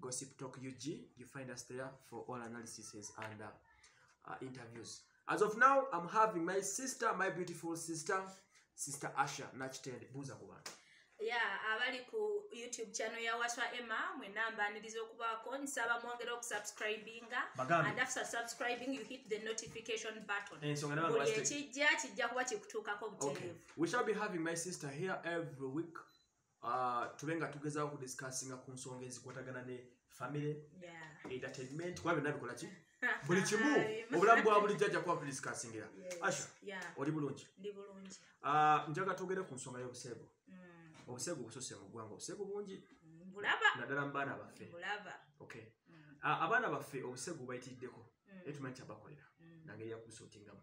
Gossip Talk UG. You find us there for all analyses and uh, uh, interviews. As of now, I'm having my sister, my beautiful sister, Sister Asha Nachitende Buza Kuban. Yeah, abali ku YouTube channel ya Waswa Emma, mwe namba nilizo kuba kwa nisaba mwangere wa kusubscribinga. Magami. And after subscribing, you hit the notification button. And eh, so, ngana wala chijia, chijia kuwa chikutuka kwa mtelevu. Okay. We shall be having my sister here every week. uh, tube nga tugezaako okudiscussinga ku nsonga ezikwatagana ne family yeah. entertainment kuba byonna bikola ki buli kimu obulamu bwa bulijjo ajja kuba tudiscussingira yes. asha yeah. oli bulungi uh, njaga twogere ku nsonga y'obuseegu mm. obuseegu bususe mu ggwanga obuseegu bungi mm, naddala mu baana baffe okay. mm. uh, abaana baffe obuseegu bayitiriddeko mm. naye tumanyi kyabakolera mm. nangeri yakubusuutingamu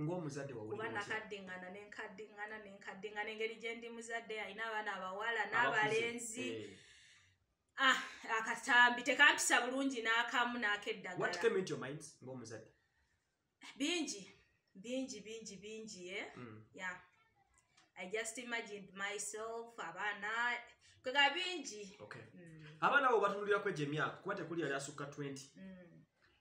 ng'omuzadde wawulira kuba nakaddiŋŋana ne nkaddiŋŋana ne nkaddiŋŋana engeri gye ndi muzadde alina abaana abawala n'abalenzi eh. ah, akatambi tekampisa bulungi n'akamu n'akeddagalaomuzadde bingi bingi bingi bingi e mm. ya i just imagined myself abaana kwega bingi mm. abaana abo batunulira kwejo emyaka kuba tekuli yali asukka 20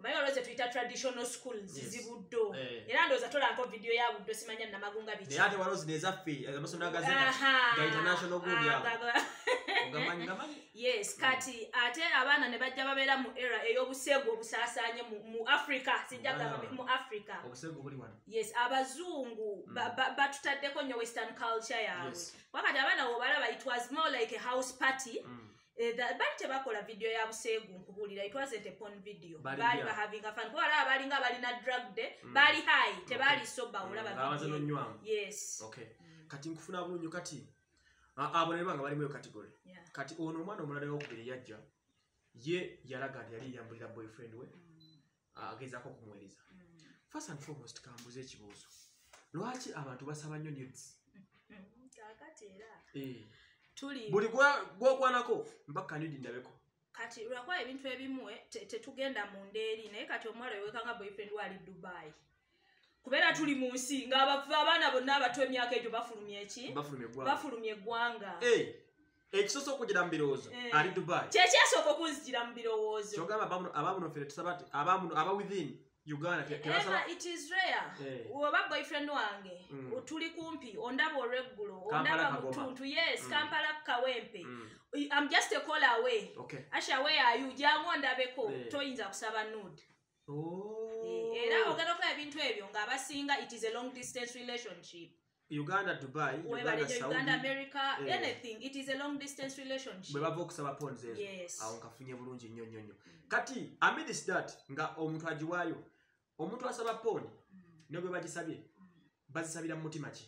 omanyi waliwo zetuyita traditional school zizibuddo eh. era ndowooza tolanko vidiyo ya buddo simanya namagunga bikiate ah, waliwo zino ezaffe amasomero agazegainternationalyes mm. kati ate abaana ne bajja babeera mu era ey'obuseegu obusaasaanye mu africa sijja gamba mu africa yes abazungu mm. batutaddeko nnyo western culture yaabwe wakati abaana wobalaba it was more like a house party mm. Eh, bali tebakola video ya buseegu nkubuulira itwazete pon video baali bahavinga fan kuba alaba balinga balina drug de mm. baali hai tebaali soba mm, olabanywamu yes okay mm. kati nkufuna bulunyo kati abo naye banga balimu eyo kategori kati ono omwana omulala yokubiri yajja ye yalaga nti yali yambulira boyfriend we mm. agezako okumuwereza mm. first and foremost kambuza ekibuuzo lwaki abantu basaba nnyo nudes kakati era eh. tuli buli gwokwanako mpaka nudi ndabeko kati lwakuba ebintu ebimu eh, tetugenda mu ndeeri naye kati omuwala wewekanga boyfriend wali dubai kubeera tuli mu nsi ngaabaana bonna abato emyaka egyo bafulumya eki bafulumya eggwanga eh. ekisoso okugira mu birowoozo eh. ali dubai kyekyasooka okunzijira mu birowoozo kyogamba abamuno fere tusaba ti abamuno aba within uganda tebasaba it is rare eh. oba boyfriend wange mm. tuli kumpi ondaba olweggulo ondaba mutuntu yes mm. kampala kukawempe mm. am just a call away okay. asha where are you jangu ondabeko eh. toyinza kusaba nude oh. era ogenda okola ebintu ebyo ng'abasinga it is a long distance relationship uganda dubai bwebava okusaba pons ezo awo nkafunye bulungi nnyo nnyo nnyo mm. kati amidis dat nga omuntu agiwaayo omuntu asaba pon mm. ne bwe bagisabye mm. bazisabira mu mutima ki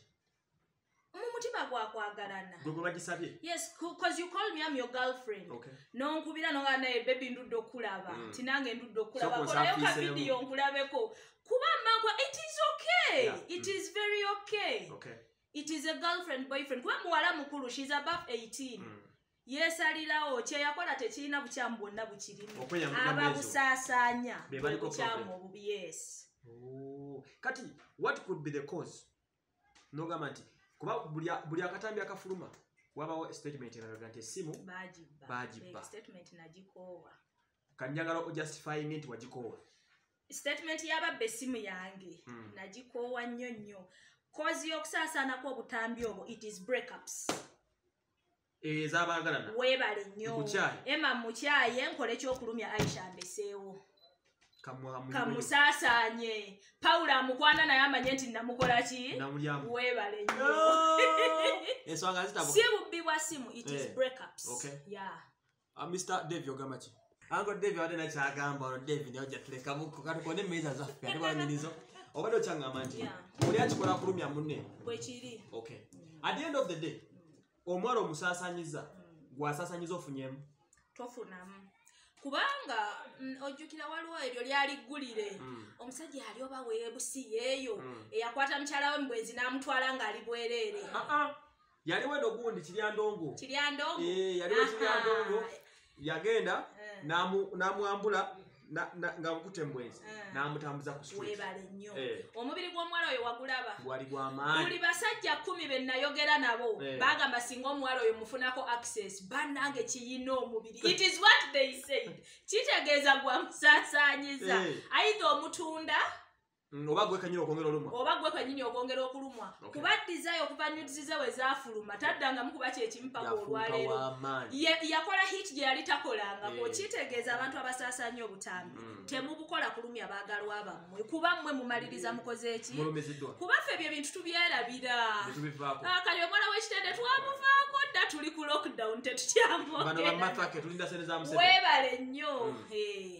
mumutima gwakwagalana gwebagisabye yes cause you call me am your girlfriend okay. nonkubira nonga naye bebi ndudde okulaba mm. tinange ndudde okulaba kolayo kavidiyo nkulabeko kuba mangwa it is okay yeah. it mm. is very okay, okay. it is a girlfriend boyfriend kuba muwala mukulu she's above 18 mm. yesalirawo kyeyakola tekirina bukyamu bwonna bukirimu ababusaasaanya bukyamu obubi yes kati what could be the cause nogamba nti kuba buli akatambi akafuluma wabawo statement eraga nti esimu bagibba kanjagala ojustifying nti wagikoowa statement yababba esimu yange hmm. nagikoowa nnyo nnyo kozi y'okusaasaanako obutambi obwo it is breakups eh, ezabaagalana weebale nnyo ema mukyaye nkola ekyokulumya aisha mbeseewo kamusaasaanye pawulo amukwana naye amanye nti namukola ki weebale nnyo si bubbi bwa simu it is eh. breakups yeah Ah, Mr. Dave ogamba ki? Ango Dave ade na kyagamba ono Dave ne oja tuleka buko kati kone meza za fe ade banyirizo. Obado changa manji. Yeah. Oli akikola kulumya munne. Bwe kiri. Okay. Mm. At the end of the day, omwaro omusasanyiza mm. gwasasanyiza ofunyemu. Tofunamu. kubanga mm, ojjukira waliwo eryo lyali ggulire mm. omusajja yali oba weebusi yeeyo mm. eyakwata mukyala we mubwenzi n'amutwala ng'ali bwereere ah, ah. yaliwo eno gundi kiryandongo kiryandongo eh, yaliwo kiryandongo yagenda eh. namwambula nga bukute mbwenzi eh. namutambuza kuwebale nnyo omubiri gw'omuwala oyo wagulaba wali gwamaanyi buli basajja kumi be nayogera nabo bagamba singa omuwala oyo mufunako access bannange kiyina omubiri it is what they said kitegeeza gwa musasanyiza aidha omutunda Mm, oba gwe kanyini okwongera olumwa oba gwe kanyini okwongera okulumwa kuba desire okuva nudes ze we zaafuluma taddangamu kuba kyekimu paka olwaleero yakola hit gye yali takolanga eh. okitegeeza abantu abasaasanya obutambi mm. temubukola kulumya baagalwa bammwe kuba mmwe mumaliriza mm. mukoze eki kuba ffe ebyo ebintu tubyerabira ah, kali omwana w'ekitende twamuvaako dda tuli ku lockdown tetukyamwogera webale nnyo eh.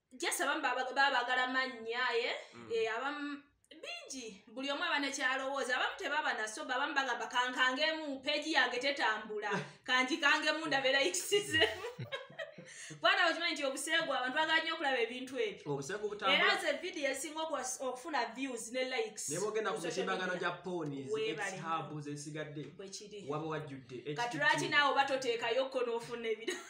jesi abamu babagala mannya ye mm. eh, abamu bingi buli omu aba nekyalowooza abamu tebaba nasoba abamu bagamba kankangemu peegi yange tetambula kanjikangemu ndabeeraikisizemu bwana okimanyi nti obuseegu abantu bagala nyo okulaba ebintu ebyoera nze vidiyo esinga okufuna views ne likes nebogenda ku mitimbagano gya ponieshabu zesigadde waba wajjudde kati lwaki naawe oba toteekayo kko n'ofuna ebirala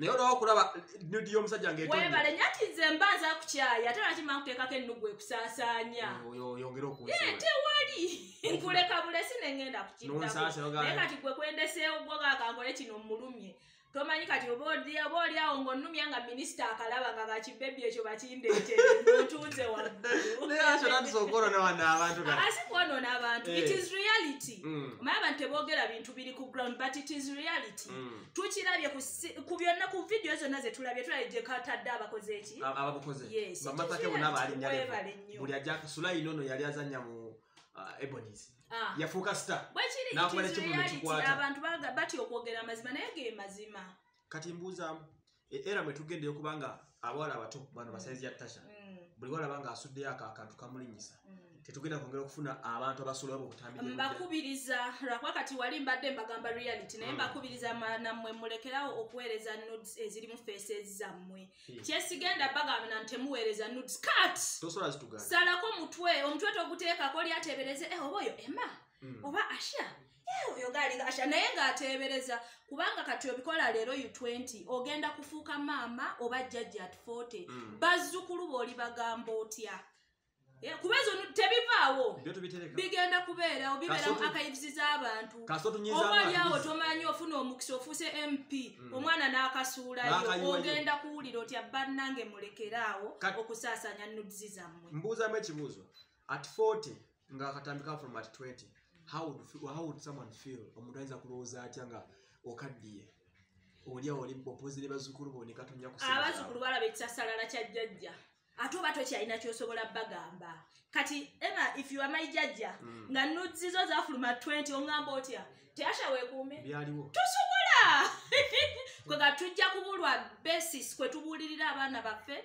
naye olaba okulaba nudi y'omusajja ngewebale nyo ati nze mba nza kukyaya ate lwaki mankuteekako ennugu ekusaasaanya oyongere okuye tewali nkuleka bulesi ne ngenda kukiddaknaye kati gwe kwendeseewo gwo gakankole kino mmulumye tomanyi kati oba oli awo ng'onnumya nga minisita akalaba nga kakibebi ekyo bakindeeteetunze wagguluasi kwonoona abantu it is reality mm. omanya abantu teboogera bintu biri ku ground but it is reality mm. tukirabye ku byonna ku vidiyo zonna zetulabye tulabye gyekatadde abakoze eki abakozebamatake bona balinyalebale nnyo buli ajja sulayi nono yali azanya mu uh, ebonis ah. yafuuka star bwekiriabantu batya okwogera amazima naye ge mazima kati mbuuzaamu e, era mwe tugendeyo kubanga abawala abato bano basaizi ya tasha mm. buli walaba nga asuddeyo ako akantu kamulinyisa mm. tetugenda kwongera okufuna abantu abasula obo obutambibakubiriza lwakuba kati wali mbadde mbagamba reality naye mm. mbakubiriza nammwe mulekerawo okuweereza nudes ezirimu faces zammwe kyesigenda bagambana nti temuweereza nudes kat salako omutwe omutwe toguteekako lyatebereze eh, oba oyo ema oba asha oyo galinga asha naye ng'ateebereza kubanga kati obikola leero u 20 ogenda kufuuka maama oba jjajja at 40 mm. bazzukulu booli bagamba otya eh, kuba ezo tebivaawo bigenda kubeerawo bibeerawo akayiziza abantu obalyawo tomanyi ofuna omukisa ofuuse mp mm. omwana n'akasuulayo ogenda kuwulira otya bannange mulekeraawo okusaasanya nudizi zammwe mbuuzamu ekibuuzo at 40 nga akatambi ka from at 20 how would, how would someone feel omuntu ayinza kulowooza atya nga okaddiye olya oli opozi ne bazukulu bo nekatonya kuabazukulu balaba ekisasalala kya jjajja ate oba tokyalina kyosobola bagamba kati ema if you are my jjajja mm. nga nuzizo zafuluma 20 ongamba otya teyasha wekuume byaliwo tusobola kwega tujja kubulwa basis kwetubuulirira abaana baffe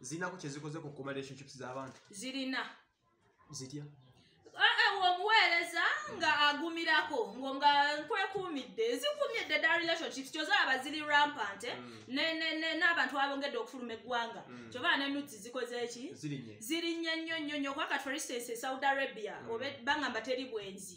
zinako kyezikoze ku kuma relationships z'abantu zirina zitya eh, eh, omuweereza nga agumirako ngo nga nkwekuumidde zikumidde da relationships kyozalaba ziri rampant eh? mm. n'abantu abongedde okufuluma eggwanga mm. kyobaa nenudzi zikoze eki zirinnye nnyo nnyo nnyo kuba kati for instance e saudi arabia mm. oba bangamba teri bwenzi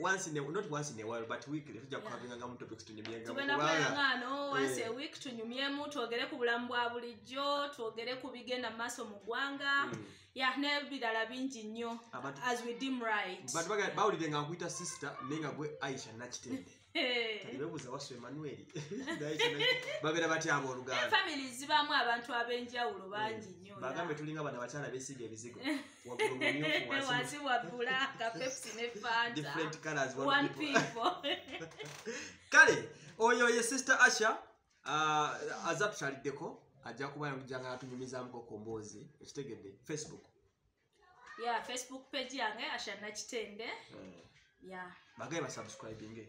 once in a, not once in a while but weekly tujja kukavinga nga mu topics tunyumyenga tugenda kubanga ngano once a eh. week tunyumyemu twogere ku bulamu bwa bulijjo twogere ku bigenda mu maaso mu ggwanga mm. ya n'ebirala bingi nnyo as we dim right but bawulire nga nkuyita sister naye nga gwe aisha nakitende bebuza wasu emmanuel babeera batya abooluganda famili zibaamu abantu ab'enjawulo bangi eh, nnyo bagambe tulinga bano abakyala besiga ebizigo wansi wa bulaaka pepsi ne fantakale oyo ye sister asha uh, aza tutaliddeko ajja kuba nakuja nga atunyumizamuko ku mboozi ekitegedde facebook ya facebook page yange asha nakitende eh. ya bagaye basubscribinge